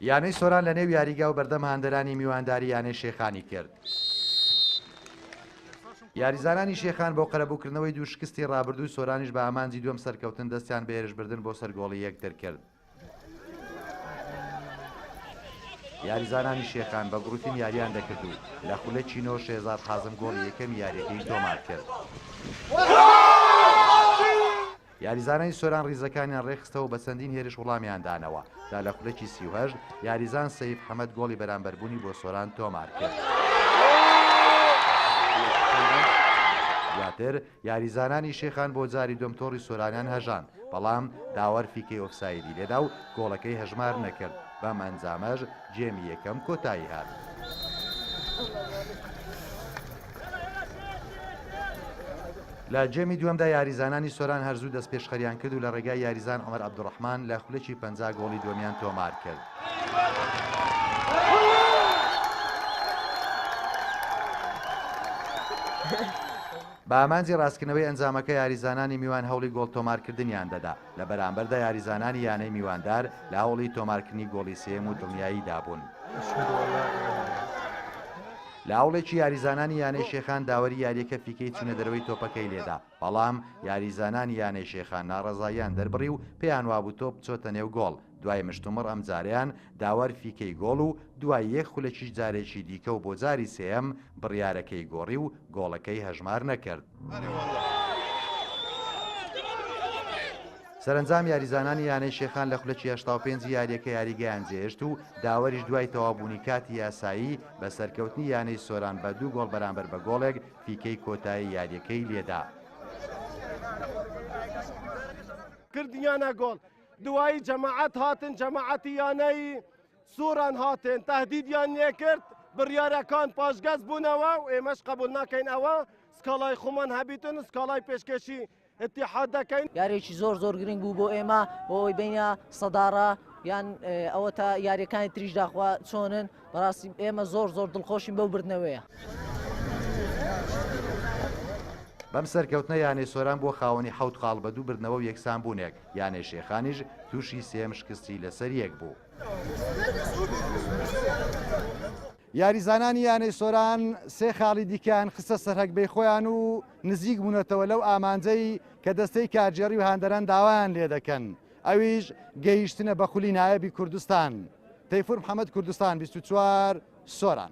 یانەی سۆران لە نێو یاریگا و بەردەم هاندەرانی میوانداری یانەی شێخانی کرد. یاریزانانی شێخان بۆ قەرەبووکردنەوەی دوو شکستی ڕابردووی سۆرانیش بە ئامانجی دووەم سەرکەوتن دەستیان بە هێرشبردن بۆ سەر گۆڵی یەکتر کرد. یاریزانانی شێخان بە گروپین یاریان دەکرد و لە خولە چینۆ شێزاد حازم گۆڵی یەکەمی یاریەکەی تۆمار کرد. یاریزانانی سۆران ریزەکانیان رێکخستەوە و بە چەندین هێرش وڵامیان دانەوە تا لە خولەکی سی و هەشت یاریزان سەیف حەمەد گۆڵی بەرامبەربوونی بۆ سۆران تۆمارکرد. دواتر یاریزانانی شێخان بۆ جاری دووەم تۆڕی سۆرانیان هەژاند، بەڵام داوەر فیکەی ئۆفسایدی لێدا و گۆڵەکەی هەژمار نەکرد، بەم ئەنجامەش جێمی یەکەم کۆتایی هات. لە جێمی دووەمدا یاریزانانی سۆران هەر زوو دەستپێشخەریان کرد و لە ڕێگای یاریزان عومەر عەبدوڕەحمان لە خولەکی پەنجا گۆڵی دووەمیان تۆمار کرد. بە ئامانجی ڕاستکردنەوەی ئەنجامەکە یاریزانانی میوان هەوڵی گۆڵ تۆمارکردنیان دەدا. لە بەرامبەردا یاریزانانی یانەی میواندار لە هەوڵی تۆمارکردنی گۆڵی سێیەم و دڵنیاییدا بوون. لە هەوڵێکی یاریزانانی یانەی شێخان داوەری یارییەکە فیکەی چوونەدەرەوەی تۆپەکەی لێدا، بەڵام یاریزانانی یانەی شێخان ناڕەزاییان دەربڕی و پێیانوابوو تۆپ چۆتە نێو گۆڵ، دوای مشتومڕ ئەم جارەیان داوەر فیکەی گۆڵ و دوای یەک خولەکیش جارێکی دیکە و بۆ جاری سێیەم بڕیارەکەی گۆڕی و گۆڵەکەی هەژمار نەکرد. سەرەنجام یاریزانانی یانەی شێخان لە خولەکی هەشتا و پێنجی یارییەکە یاریگەیان جێهێشت و داوەریش دوای تەواوبوونی کاتی یاسایی بە سەرکەوتنی یانەی سۆران بە دوو گۆڵ بەرامبەر بە گۆڵێک فیکەی کۆتایی یارییەکەی لێدا. دوایی جەماعەت هاتن جەماعەتی یانەی سوران هاتن تهدیدیان لێکرد بڕیارەکان پاشگەز بوونەوە و ئێمەش قبول ناکەین ئەوە سکاڵای خۆمان هەبیتن و سکاڵای پێشکەشی اتحاد دەکەین یاریێکی زۆر زۆر گرنگ بوو بۆ ئێمە بۆ ئەوی بینە سەداڕە یان ئەوە تا یاریەکانی تریش داخوا چۆنن بەڕاستی ئێمە زۆر زۆر دڵخۆشین بەو بردنەوەیە. بەم سەرکەوتنە یانەی سۆران بووە خاوەنی حەوت خاڵ بە دوو بردنەوە و یەکسانبوونێک یانەی شێخانیش تووشی سێیەم شکستی لەسەریەک بوو. یاریزانانی یانەی سۆران سێ خاڵی دیکەیان خستە سەرهەگبەی خۆیان و نزیک بوونەتەوە لەو ئامانجەی کە دەستەی کارگێڕی و هاندەران داوایان لێدەکەن، ئەویش گەیشتنە بە خولی نایەبی کوردستان. تەیفور محەمەد کوردستان بیست و چوار، سۆران.